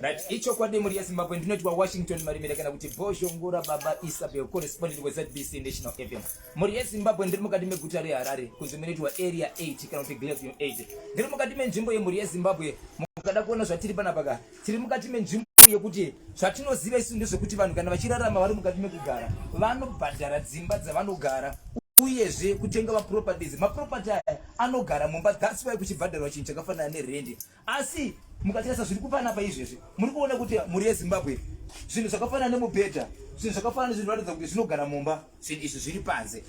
right ichokwadi mhuri yezimbabwe ndinoti washington marimira kana kuti bozhongora baba isabel correspondent wezbc national fm mhuri yezimbabwe ndiri mukati meguta reharare kunzi munoitwa area 8 kana kuti glavium 8 ndiri mukati menzvimbo yemhuri yezimbabwe mukada kuona zvatiri panapaka tiri mukati menzvimbo yekuti zvatinoziva isu ndezvekuti vanhu kana vachirarama vari mukati mekugara vanobhadhara dzimba dzavanogara uyezve kutenga maproperties maproperty aya anogara mumba thats why kuchibhadharwa chinhu chakafanana nerendi asi mukatarisa zviri kupana pa izvezvi muri kuona kuti mhuri yezimbabwe zvinhu zvakafanana nemubhedha zvinhu zvakafanana nezvinhu ratidza kuti zvinogara mumba zvinhu izvi zviri panze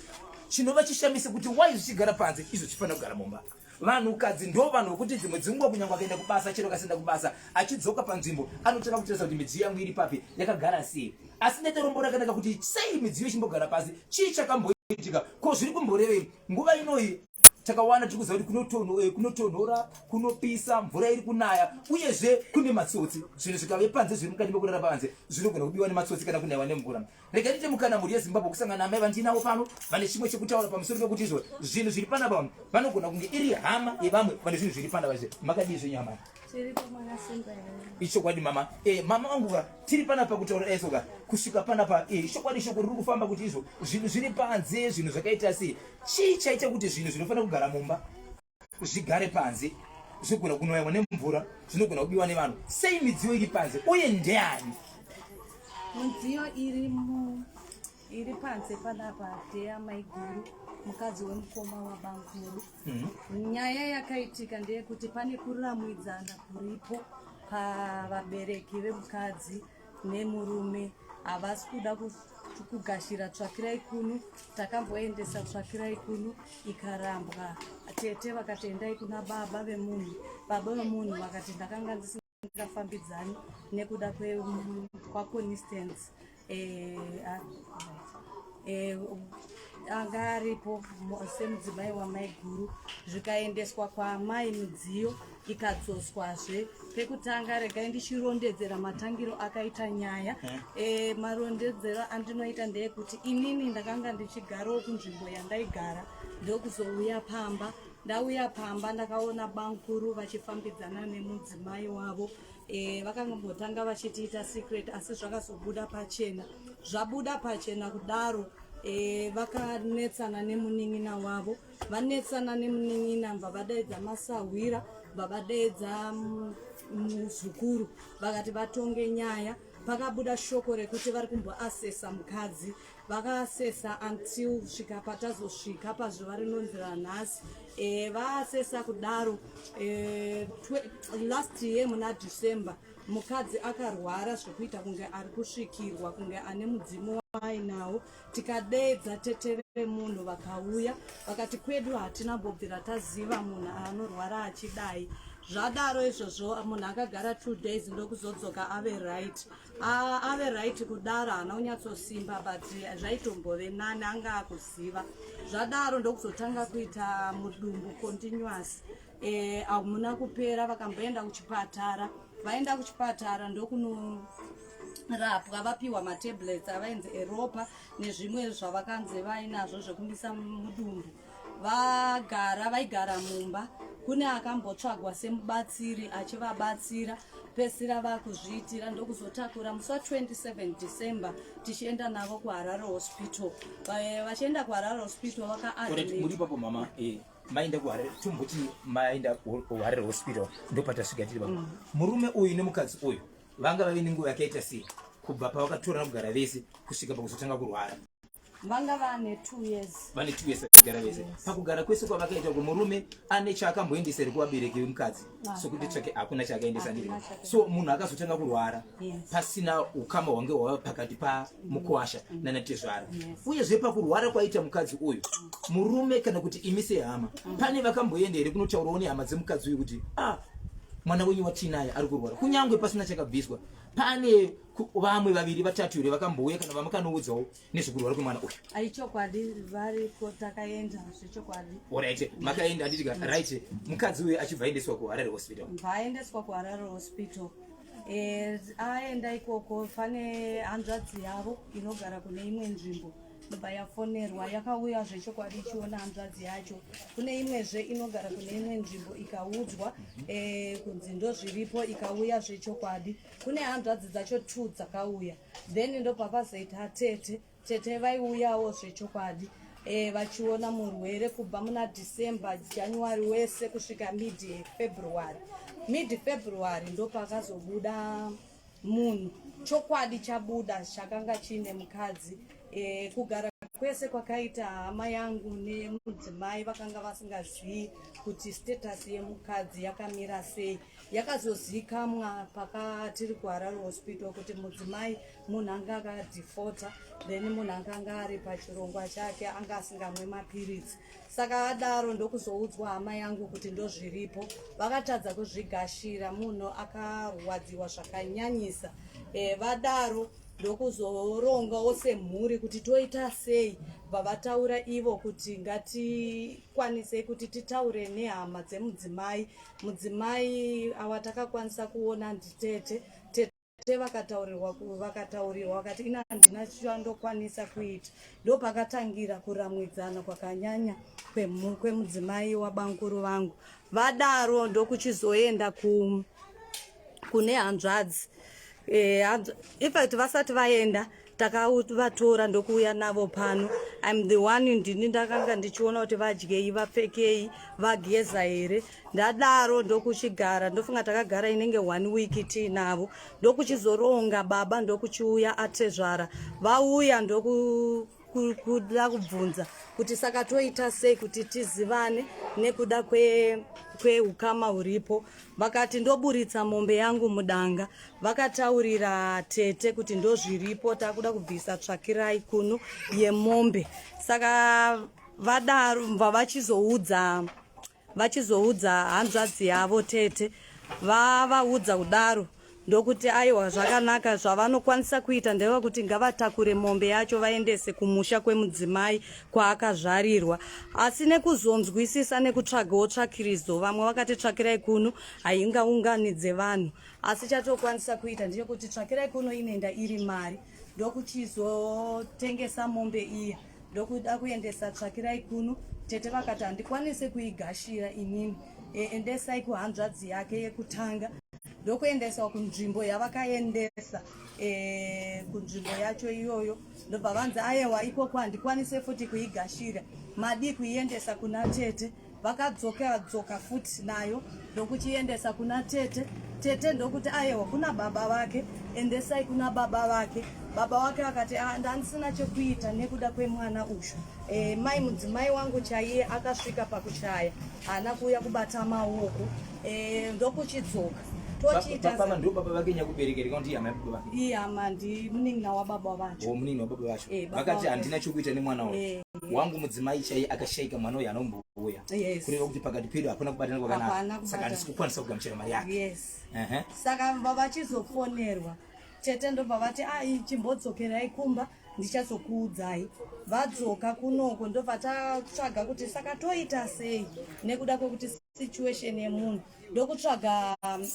chinova chishamise kuti why zvichigara panze izvo chifanira kugara mumba vanhukadzi ndo vanhu vokuti dzimwe dzinguva kunyange akaenda kubasa chero kasenda kubasa achidzoka panzvimbo anotanga kutarisa kuti midziyo yangu iri papi yakagara sei asi netorombo rakanaka kuti sei midziyo ichimbogara pasi chii chakamboitika ko zviri kumborevei nguva inoi takawana tiri kuziva kuti eh, kunotonhora kunopisa mvura iri kunaya uyezve kune matsotsi zvinhu zvikave panze zviri mukati mekurara panze zvinogona kubiwa nematsotsi kana kunaiwa nemvura Rega ndiite mukana mhuri yeZimbabwe kusangana naamai vandiinavo pano vane chimwe chekutaura pamusoro pekuti izvo zvinhu zviri panapa vanhu vanogona kunge iri hama yevamwe vane zvinhu zviri panapa izve makadii zvenyu hama ichokwadi mama eh, mama vangu ka tiri panapa kutaura eso ka kusvika panapa eh, ichokwadi eh, shoko riri kufamba kuti izvo zvinhu zviri panze zvinhu zvakaita sei chii chaita kuti zvinhu zvinofanira kugara mumba zvigare panze zvinogona kunoyamwa nemvura zvinogona kubiwa nevanhu sei midziyo iri panze uye ndeyani midziyo iri mu iri panze panapa deya maiguru mukadzi wemukoma wabankudu mm -hmm. nyaya yakaitika ndeyekuti pane kuramwidzana kuripo pavabereki vemukadzi nemurume havasi kuda kugashira tsvakirai kuno takamboendesa tsvakirai kuno ikarambwa tete vakati endai kuna baba vemunhu baba vemunhu vakati ndakanga ndisingafambidzani nekuda kwaconistance eh, ah, eh, anga aripo semudzimai wamai guru zvikaendeswa kwaamai midziyo ikadzoswazve pekutanga regai ndichirondedzera matangiro akaita nyaya e, marondedzero andinoita ndeyekuti inini ndakanga ndichigarowo kunzvimbo yandaigara ndokuzouya pamba ndauya pamba ndakaona bankuru vachifambidzana nemudzimai wavo e, vakangambotanga vachitiita secret asi zvakazobuda pachena zvabuda pachena kudaro e, vakanetsana nemunin'ina wavo vanetsana nemunin'ina mva vadaidza masahwira mva vadaidza mm, muzukuru vakati vatonge nyaya pakabuda shoko rekuti vari kumboasesa mukadzi vakaasesa until svika patazosvika pazuva rinonzira nhasi e, vaasesa kudaro e, twe, last year muna december mukadzi akarwara zvekuita kunge ari kusvikirwa kunge ane mudzimu waainawo tikadeedza tete vemunhu vakauya vakati kwedu hatina mbobvira taziva munhu anorwara achidai zvadaro izvozvo munhu akagara two days ndokuzodzoka ave right ave right kudaro haana kunyatsosimba but zvaitombove nani anga akuziva zvadaro ndokuzotanga kuita mudumbu continuous Eh, hamuna kupera vakamboenda kuchipatara vaenda kuchipatara ndokunorapwa vapiwa matablets avainzi eropa nezvimwe zvavakanzi vainazvo zvekumisa mudumbu vagara vaigara mumba kune akambotsvagwa semubatsiri achivabatsira pesira vakuzviitira ndokuzotakura musi wa 27 december tichienda navo kuharare hospital eh, vachienda kuharare hospital vakaadmit maenda kuharere tomboti maenda kuharere hospital ndopatasvika tiri vamwe mm. murume uyu nemukadzi uyu vanga vave nenguva yakaita sei kubva pavakatorana kugara vese kusvika pakuzotanga kurwara vanga vane two years vane two years vakagara vese pakugara kwese kwavakaita kuti murume ane chaakamboendesa here kuvabereki vemukadzi sokuti tsvake hakuna chakaendesa ndiri so munhu akazotanga kurwara pasina ukama hwange hwava pakati pamukwasha mm. nana tezvara uyezve pakurwara kwaita mukadzi uyu mm. murume kana kuti imi sehama mm. pane vakamboenda here kunotaurawo nehama dzemukadzi uyu kuti ah mwana wenyu watiinaye ari kurwara kunyange pasina chakabviswa pane vamwe vaviri vatatu here vakambouya kana vamwe kanoudzawo nezvekurwara kwemwana uyu ai chokwadi variko takaenda zvechokwadi orit makaenda anditika right mukadzi uyu achibva aendeswa kuharare hospital bvaaendeswa kuharare hospital eh, aenda ikoko pane hanzvadzi yavo inogara kune imwe nzvimbo ndobva yafonerwa yakauya zvechokwadi ichiona hanzvadzi yacho kune imwezve inogara kune imwe nzvimbo ikaudzwa eh, kunzi ndozviripo ikauya zvechokwadi kune hanzvadzi dzacho two dzakauya then ndopakazoita tete tete vaiuyawo zvechokwadi e, vachiona murwere kubva muna december january wese kusvika mid february mid february ndopakazobuda munhu chokwadi chabuda chakanga chiine mukadzi e, kugara kwese kwakaita hama yangu nemudzimai vakanga vasingazivi kuti status yemukadzi yakamira sei yakazozikamwa pakatiri kuharare hospital kuti mudzimai munhu anga akadefota then munhu anga anga ari pachirongwa chake anga asingamwe mapiritsi saka adaro ndokuzoudzwa hama yangu kuti ndozviripo vakatadza kuzvigashira munhu akarwadziwa zvakanyanyisa e, vadaro ndokuzororongawo semhuri kuti toita sei vavataura ivo kuti ngatikwanisei kuti titaure nehama dzemudzimai Mudzimai awa takakwanisa kuona nditete tete vakataurirwa vakataurirwa vakati ina handina chandokwanisa kuita ndopakatangira kuramwidzana kwakanyanya kwemudzimai wabanguru vangu vadaro ndokuchizoenda ku kune hanzvadzi e, infact vasati vaenda takavatora ndokuuya navo pano im the one ndini ndakanga ndichiona kuti vadyei vapfekei vageza here ndadaro ndokuchigara ndofunga takagara inenge one week tiinavo ndokuchizoronga baba ndokuchiuya atezvara vauya ndoku kuda kubvunza kuti saka toita sei kuti tizivane nekuda kweukama kwe huripo vakati ndoburitsa mombe yangu mudanga vakataurira tete kuti ndozviripo takuda kubvisa tsvakirai kunu yemombe saka vadaro vavachizoudza vachizoudza hanzvadzi yavo tete vavaudza kudaro ndokuti aiwa zvakanaka zvavanokwanisa kuita ndeva kuti ngavatakure mombe yacho vaendese kumusha kwemudzimai kwaakazvarirwa asi nekuzonzwisisa nekutsvagawo tsvakiridzo vamwe vakati tsvakirai kuno haingaunganidze vanhu asi chatokwanisa kuita ndeyekuti tsvakirai kuno inenda iri mari ndokuchizotengesa mombe iya ndokuda kuendesa tsvakirai kuno tete vakati handikwanise kuigashira inini e, endesai kuhanzvadzi yake yekutanga ndokuendesa kunzvimbo yavakaendesa e, kunzvimbo yacho iyoyo ndobva vanzi ayewa ikoko handikwanise futi kuigashira madii kuiendesa kuna tete vakadzokera dzoka futi nayo ndokuchiendesa kuna tete tete ndokuti ayewa kuna baba vake endesai kuna baba vake baba wake vakati ah, ndandisina chekuita nekuda kwemwana uyu e, mai mudzimai wangu chaiye akasvika pakushaya haana kuuya kubata maoko e, ndokuchidzoka tochiitaiye hama ndimunin'ina wababa vacho oh, vakati handina chekuita nemwana uyu wangu mudzimai chaiye akashaika mwana uyu anombouya kureva kuti pakati pedu hapana kubatana kwakanaka saka handisi kukwanisa kugamuchira mari yake saka vavachizofonerwa tete ndobva vati ai ah, chimbodzokerai kumba ndichazokuudzai vadzoka kunoko ndobva tatsvaga kuti saka toita sei nekuda kwekuti situation yemunhu ndokutsvaga um,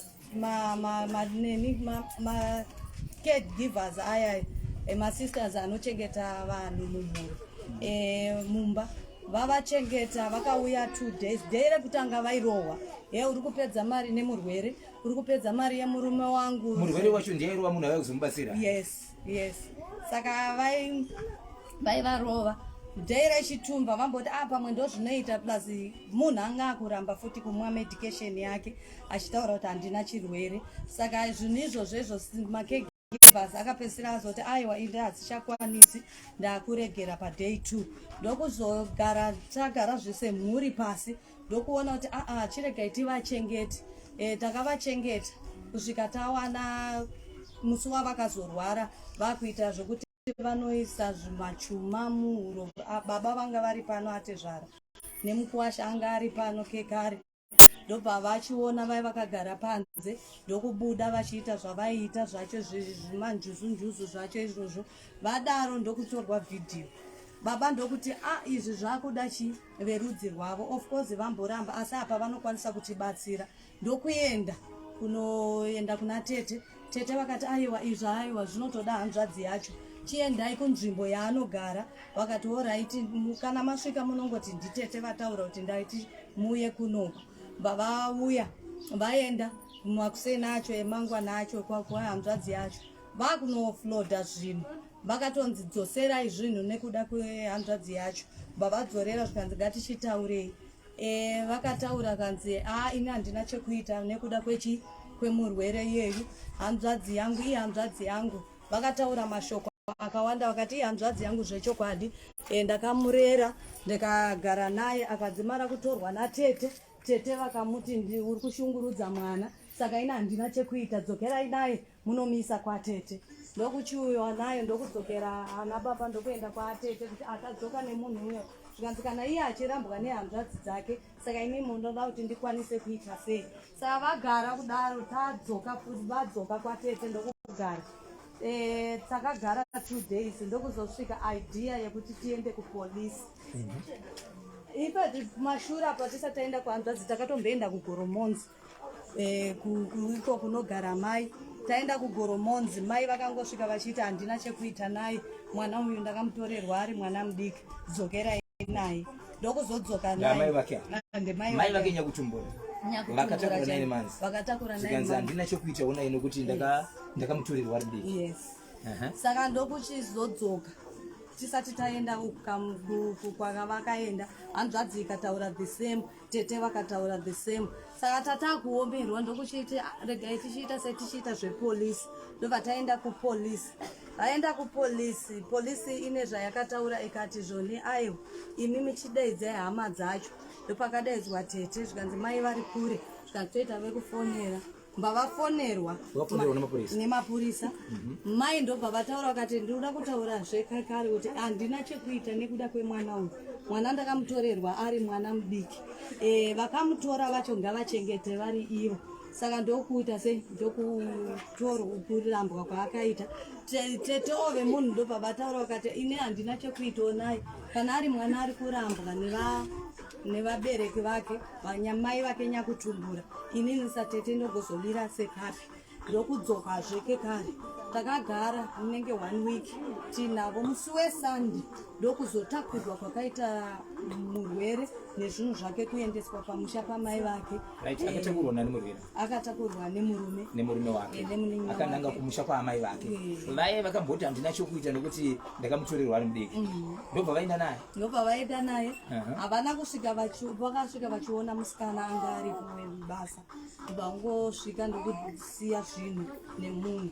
maneni macare givers aya emasisters anochengeta vanhu mumhuri e, mumba vavachengeta vakauya two days day rekutanga vairohwa he uri kupedza mari nemurwere uri kupedza mari yemurume wangu murwere wacho ndiye airohwa munhu avai kuzomubatsira yes yes saka vai vaivarova day rechitumba vamboti a ah, pamwe ndozvinoita plus munhu anga akuramba futi kumwa medication yake achitaura kuti handina chirwere saka zvinhu izvozvo izvo makeg bas akapedzisira azoti aiwa inde hadzichakwanisi ndakuregera paday two ndokuzogara tagara zvese mhuri pasi ndokuona kuti aa ah, ah, chiregai tivachengeti e, eh, takavachengeta kusvika tawana musi wavakazorwara vakuita zvekuti vanoisa zvimachuma muhuro ah, baba vanga vari pano atezvara nemukuwasha anga ari pano kekare ndobva vachiona vai vakagara panze ndokubuda vachiita zvavaiita zvacho zvimanjuzunjuzu zvacho izvozvo vadaro ndokutorwa vhidhiyo baba ndokuti a ah, izvi zvakuda chii verudzi rwavo of course vamboramba asi apa vanokwanisa kutibatsira ndokuenda kunoenda kuna tete tete vakati aiwa izvo aiwa zvinotoda hanzvadzi yacho chiendai kunzvimbo yaanogara vakati oraiti kana masvika munongoti nditete vataura kuti ndaiti muuye kunoku vavauya vaenda makuseni acho emangwana acho kwakuhanzvadzi yacho vakunofloda zvinhu vakatonzi dzoserai zvinhu nekuda kwehanzvadzi yacho vavadzorera zvikanzi ngatichitaurei e, vakataura kanzi a ini handina chekuita nekuda kwechi kwemurwere iyeyu hanzvadzi yangu iye hanzvadzi yangu vakataura mashoko akawanda vakati ihanzvadzi yangu zvechokwadi e, ndakamurera ndikagara naye akadzimara kutorwa natete tete vakamuti uri kushungurudza mwana saka ina handina chekuita dzokerai naye munomisa kwatete ndokuchiuyiwa nayo ndokudzokera ana baba ndokuenda kwatete kuti akadzoka nemunhu uyo zvikanzi kana iye achirambwa nehanzvadzi dzake saka imi munoda kuti ndikwanise kuita sei saka vagara kudaro tadzoka vadzoka kwatete ndokugara eh, takagara two days ndokuzosvika idea yekuti tiende kupolisi mhm. ipa mashura patisataenda kuhanzvadzi takatomboenda kugoromonzi eh, iko kunogara mai taenda kugoromonzi mai vakangosvika vachiti handina chekuita naye mwana uyu ndakamutorerwa ari mwana mudiki dzokerai naye ndokuzodzoka naye ndemai vake nyakutumbura vakatakura naye manzi vakatakura naye manzi handina chekuita unaye nokuti ndaka ndakamutorerwa ari mudiki yes saka ndokuchizodzoka tisati taenda kwakavakaenda hanzvadzi ikataura the same tete vakataura the same saka tatakuomerwa ndokuchiiti ah, regai tichiita setichiita zvepolisi ndobva taenda kupolisi vaenda kupolisi polisi ine zvayakataura ikati zvoni aiwa imi michidaidzai hama dzacho ndopakadaidzwa tete zvikanzi mai vari kure zvikanzi toita vekufonera mbavafonerwa nemapurisa mhm. mai ndobva vataura vakati ndinoda kutaura zvekakare kuti handina chekuita nekuda kwemwana uyu mwana ndakamutorerwa ari mwana mudiki e, vakamutora vacho ngavachengete vari ivo saka ndokuita sei ndokutorambwa kwaakaita tetoove munhu ndobva vataura vakati ini handina chekuitawo naye kana ari mwana ari kurambwa neva nevabereki vake vanyamai vake nyakutumbura inini satete ndogozomira sepapi ndokudzoka zveke kare takagara munenge one week tinavo musi wesande ndokuzotakurwa kwakaita murwere nezvinhu zvake kuendeswa pamusha pamai vake akatakurwa nemurume nemurume wake eh, akananga kumusha kwaamai vake eh. vaye vakamboti handina chokuita nekuti ndakamutorerwa ari mudiki mm. ndobva vaenda naye ndobva vaenda naye havana kusvika vakasvika vachiona musikana anga aripo basa ndobva vangosvika ndokusiya zvinhu nemunhu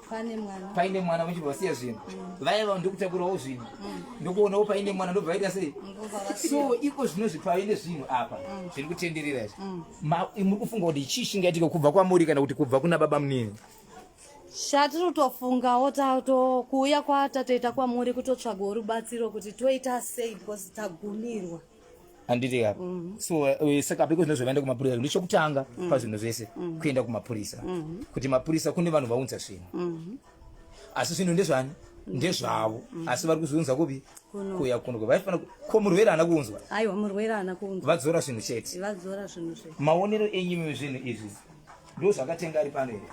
paine mwana paine mwana vachibva vasiya zvinhu mm. vaya vanhu ndikutakurawo zvinhu mm. ndokuonawo paine mwana ndobva vaita sei so iko zvino zvipave nezvinhu apa mm. zviri kutenderera izvi muri kufunga kuti chii chingaitike kubva kwamuri kana kuti kubva kuna baba munini shatiri kutofungawo tatokuuya kwatatoita kwamuri kutotsvaga rubatsiro kuti toita sei because tagumirwa handiti ka mm. so eh, saka apiko zvinhu zvavaenda kumapurisa ndo chokutanga mm. pazvinhu zvese mm. kuenda kumapurisa mm-hmm. kuti mapurisa kune vanhu vaunza zvinhu mm-hmm. asi zvinhu ndezvani mm-hmm. ndezvavo asi vari kuzviunza kupi kuya kuno vaifana ko murwere ana kuunzwa aiwa murwere ana kuunzwa vadzora zvinhu chete vadzora zvinhu zvese maonero enyimi zvinhu izvi ndo zvakatenga ari pano here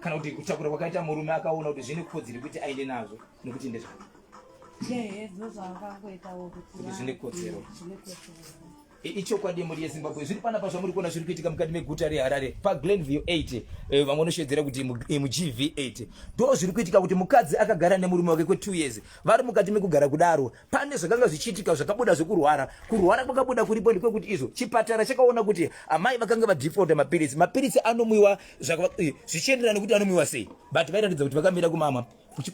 kana kuti kutakura kwakaita murume akaona kuti zvine kodziri kuti aende nazvo nokuti ndezvavo ichokwadi mhuri yezimbabwe zviri panapa zvamuri kuona zviri kuitika mukati meguta reharare paglenview 8 eh, vamwe vanoshedzera kuti mugv 8 ndo zviri kuitika kuti mukadzi akagara nemurume wake kwe2 years vari mukati mekugara kudaro pane zvakanga zvichiitika zvakabuda zvekurwara kurwara kwakabuda kuripo ndekwekuti izvo chipatara chakaona kuti amai vakanga vadefaulta mapiritsi mapiritsi anomwiwa eh, zvichienderana nekuti anomwiwa sei but vairatidza kuti vakamira kumama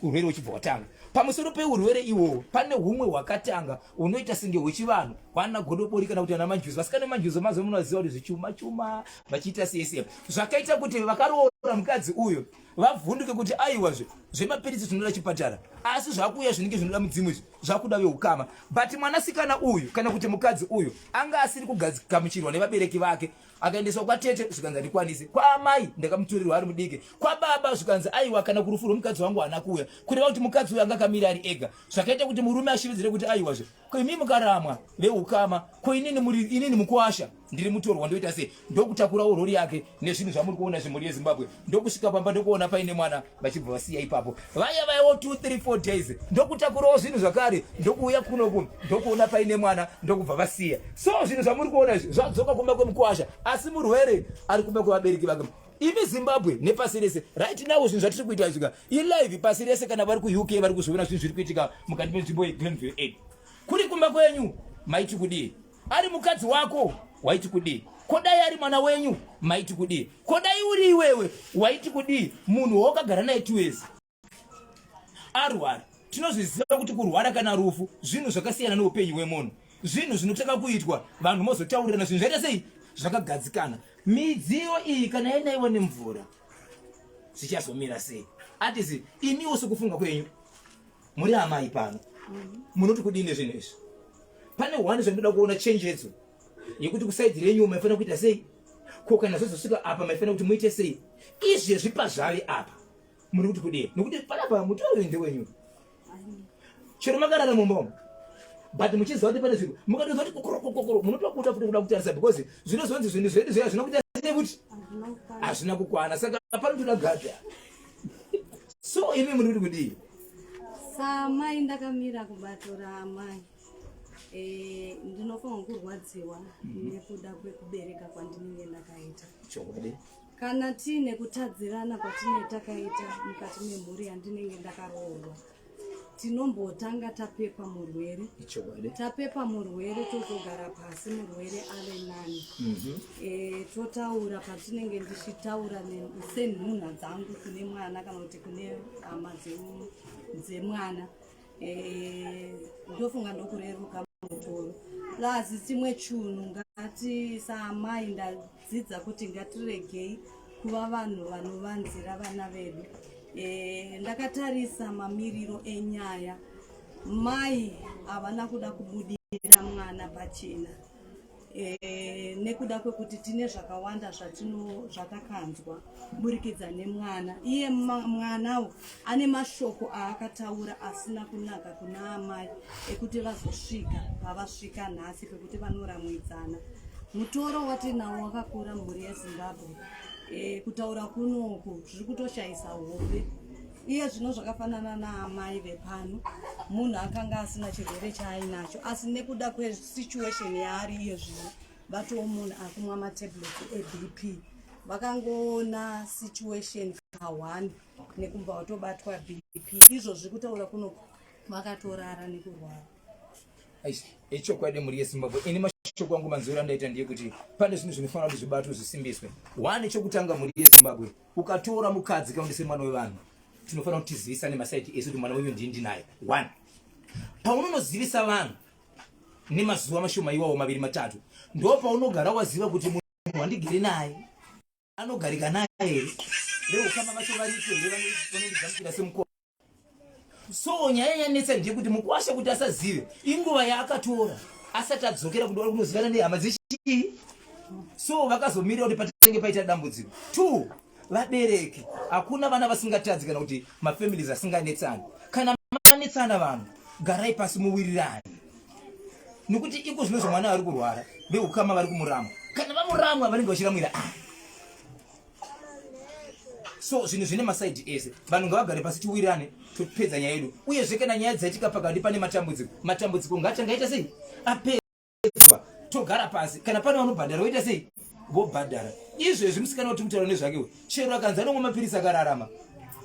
urwere uchibva watanga pamusoro peurwere iwowo pane humwe hwakatanga unoita senge hwechivanhu hwana godobori kana kuti ana manjuzi vasikana manjuzi mazuva munovaziva kuti zvichuma chuma vachiita sese zvakaita kuti vakaroora mukadzi uyo vavhunduke kuti aiwazve zvemapiritsi zvinoda chipatara asi zvakuuya zvinenge zvinoda mudzimu izvi zvakuda veukama but mwanasikana uyu kana kuti mukadzi uyu anga asiri kugamuchirwa nevabereki vake akaendeswa kwatete zvikanzi handikwanisi kwaamai ndakamuturirwa ari mudiki kwababa zvikanzi aiwa kana kurufu rwemukadzi wangu haana kuuya kureva kuti mukadzi uyo anga akamira ari ega zvakaita kuti murume ashiridzire kuti aiwa zve ko imi mukaramwa veukama ko inini muri inini mukuwasha ndiri mutorwa ndoita sei ndokutakurawo rori yake nezvinhu zvamuri kuona zvemhuri yezimbabwe ndokusvika pamba ndokuona paine mwana vachibva vasiya ipapo vaya vaiwo 234 days ndokutakurawo zvinhu zvakare ndokuuya kunoku ndokuona paine mwana ndokubva vasiya so zvinhu zvamuri kuona izvi zvadzoka kumba kwemukwasha asi murwere ari kumba kwevabereki vake imi zimbabwe nepasi rese right now zvinhu zvatiri kuita izvika ilive pasi rese kana vari kuuk vari kuzviona zvinhu zviri kuitika mukati menzvimbo yeglenville aid kuri kumba kwenyu maiti kudii ari mukadzi wako waiti kudii ko dai ari mwana wenyu maiti kudii ko dai uri iwewe waiti kudii munhu waukagara naye tiwezi arwara tinozviziva kuti kurwara kana rufu zvinhu zvakasiyana neupenyu hwemunhu zvinhu zvinotanga kuitwa vanhu mozotaurirana zvinhu zvaita sei zvakagadzikana midziyo iyi kana yainaiwa nemvura zvichazomira sei atisi imiwo sokufunga kwenyu muri amai pano munoti kudii nezvinhu izvi pane one zvandinoda kuona change edzo yekuti kusaidi renyu maifanira kuita sei ko kana zvozosvika apa maifanira kuti muite sei izvi zvipa zvave apa muri kuti kudii nokuti panapa mutoro ende wenyu chero makarara mumbomo but muchiziva kuti pane zvinhu mukatoziva kuti kokorokokokoro munotokuta futi kuda kutarisa because zvinozonzi zvinhu zvedu zviya zvinokuita kuti hazvina kukwana saka panotoda gadha so imi muri kuti kudii samai ndakamira kubatora amai eh, ndinofanwa kurwadziwa mhm. nekuda kwekubereka kwandinenge ndakaita kana tiine kutadzirana kwatinee takaita mukati memhuri yandinenge ndakaroorwa tinombotanga tapepa murwere tapepa murwere totogara pasi murwere ave nani mhm. eh, totaura patinenge ndichitaura senhunha dzangu kune mwana kana kuti kune hama dzemwana eh, ndofunga ndokureruka mutoro plus chimwe chunhu ngati saamai dzidza kuti ngatiregei kuva vanhu vanovanzira vana vedu e, ndakatarisa mamiriro enyaya mai havana kuda kubudira mwana pachena e, nekuda kwekuti tine zvakawanda zvatino zvatakanzwa kuburikidza nemwana iye mwanawo ane mashoko aakataura asina kunaka kuna amai ekuti vazosvika pavasvika nhasi pekuti vanoramwidzana mutoro watinawo wakakura mhuri yezimbabwe e, kutaura kunoku zviri kutoshayisa hope iye zvino zvakafanana naamai vepano munhu akanga asina chirwere chaainacho asi nekuda kwesituation yaari iye zvino vatowo munhu akumwa matablet ebp vakangoona situation kahwani nekumva watobatwa bp izvozvi kutaura kuno vakatorara nekurwara echokwadi mhuri yezimbabwe ini mashoko angu manzwiro andaita ndiye kuti pane zvinhu zvinofanira kuti zvibatwe zvisimbiswe one chokutanga mhuri yezimbabwe ukatora mukadzi kaundi semwana wevanhu tinofanira kuti tizivisane masaiti esu kuti mwana wenyu ndii ndinaye one paunonozivisa vanhu nemazuva mashoma iwawo maviri matatu ndo paunogara waziva kuti munhu wandigere naye anogarika naye here veukama vacho variko here vanondigamuchira semukoma so nyaya yanetsa ndiye kuti mukwasha kuti asazive inguva yaakatora asati adzokera kuti vari kunozivana nehama dzechii so vakazomirira kuti patenge paita dambudziko two vabereki hakuna vana vasingatadzi kana kuti mafamilies asinganetsani kana manetsana vanhu garai pasi muwirirani nokuti iko zvino zvomwana vari kurwara veukama vari kumuramwa kana vamuramwa vanenge vachiramwira ah. so zvinhu zvine masaidi ese vanhu ngavagare pasi tiwirirane topedza nyaya yedu uyezve kana nyaya dzaitika pakati pane matambudziko matambudziko ngaachangaita sei apera Tinoyedzwa togara pasi kana pane vanobhadhara voita sei vobhadhara izvezvi musikana kuti mutauro nezvake we chero akanzi anomwa mapirisi akararama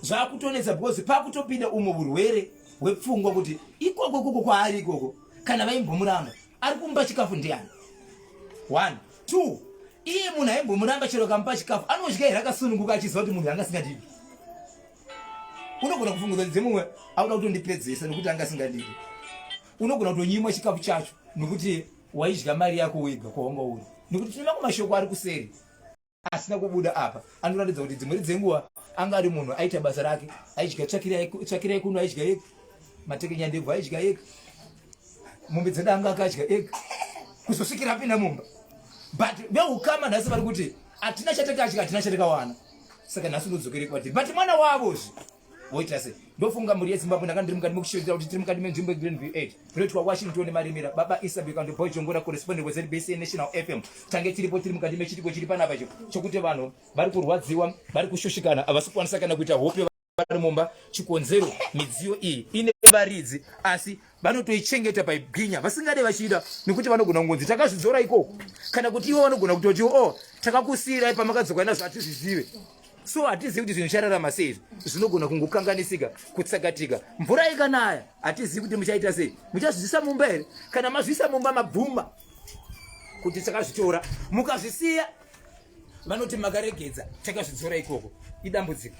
zvakutonetsa because pakutopinda umwe urwere hwepfungwa kuti ikoko ikoko kwaari ikoko kana vaimbomuramba ari kumba chikafu ndiani one two iye munhu aimbomuramba chero kamupa chikafu anodya here akasununguka achiziva kuti munhu anga asingadivi unogona kufunguza dzemumwe auda kutondipedzesa nekuti anga asingadivi unogona kutonyimwa chikafu chacho nokuti waidya mari yako wega kwawanga uri nokuti tinoona kumashoko ari kuseri asina kubuda apa anoratidza kuti dzimweri dzenguva anga ari munhu aita basa rake aidya tsvakira yekuno aidya yega matekenya ndebvu aidya yega mombe dzeda anga akadya yega kuzosvikira apinda mumba but veukama nhasi vari kuti hatina chatakadya hatina chatakawana saka nhasi unodzokere kwatiri but mwana wavo zvi woita sei ndofunga mhuri yezimbabwe ndanga ndiri mukati mekushevedzera kuti tiri mukati menzvimbo yegreen v 8 kunoitwa washington nemaremera baba isabek and boy jongora correspondent wezbc national fm tange tiripo tiri mukati mechitiko chiri panapa cho chokuti vanhu vari kurwadziwa vari kushushikana havasi kukwanisa kana kuita hope vari mumba chikonzero midziyo iyi ine varidzi asi vanotoichengeta paibwinya vasingade vachiita nekuti vanogona kungonzi takazvidzora ikoko kana kuti ivo vanogona kutoti o oh, takakusiirai pamakadzoka nazvo hatizvizive so hatizivi kuti zvinhu zvichirarama sei izvi zvinogona kungokanganisika kutsakatika mvura ikanaya hatizivi kuti muchaita sei muchazvizvisa mumba here kana mazvisa mumba mabvuma kuti takazvitora mukazvisiya vanoti makaregedza takazvidzora ikoko idambudziko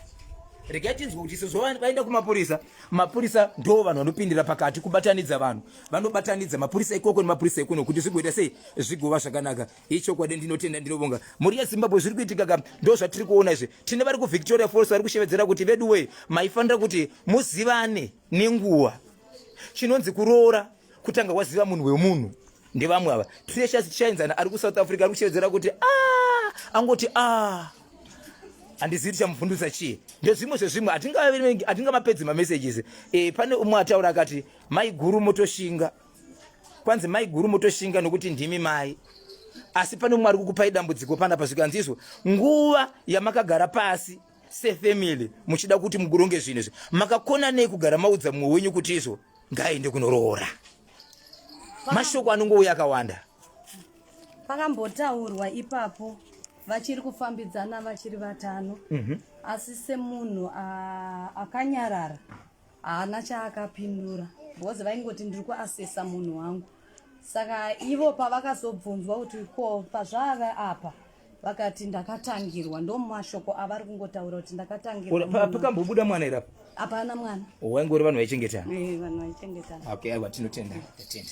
regai tinzwe kuti sezvo vaenda kumapurisa mapurisa ndo vanhu vanopindira pakati kubatanidza vanhu vanobatanidza mapurisa ikoko nemapurisa ekuno kuti zvigoita sei zvigova zvakanaka ichokwadi ndinotenda ndinovonga mhuri yezimbabwe zviri kuitika ka ndo zvatiri kuona izvi tine vari kuvictoria falls vari kushevedzera kuti vedu wee maifanira kuti muzivane nenguva chinonzi kuroora kutanga waziva munhu wemunhu ndevamwe ava precious tichaenzana ari kusouth africa ari kushevedzera kuti a ah! angoti a ah! handizivi tichamubvundutsa chii ndezvimwe zvezvimwe hatingamapedzi mamessages e, pane umwe ataura akati mai guru motoshinga kwanzi mai guru motoshinga nokuti ndimi mai asi pane umwe ari kukupai dambudziko panapa zvikanzi izvo nguva yamakagara pasi sefamily muchida kuti mukuronge zvinhu izvi makakona nei kugara maudza mumwe wenyu kuti izvo ngaaende kunoroora mashoko anongouya akawanda pakambotaurwa ipapo vachiri kufambidzana vachiri vatano mhm. asi semunhu akanyarara haana chaakapindura because vaingoti ndiri kuasesa munhu wangu saka ivo pavakazobvunzwa kuti ko pazvaave apa vakati ndakatangirwa ndomashoko avari kungotaura kuti ndakatangirwapakambobuda mwana irapo hapana mwana waingori vanhu vaichengetana eh, vanhu vaichengetana okay aiwa tinotenda tatenda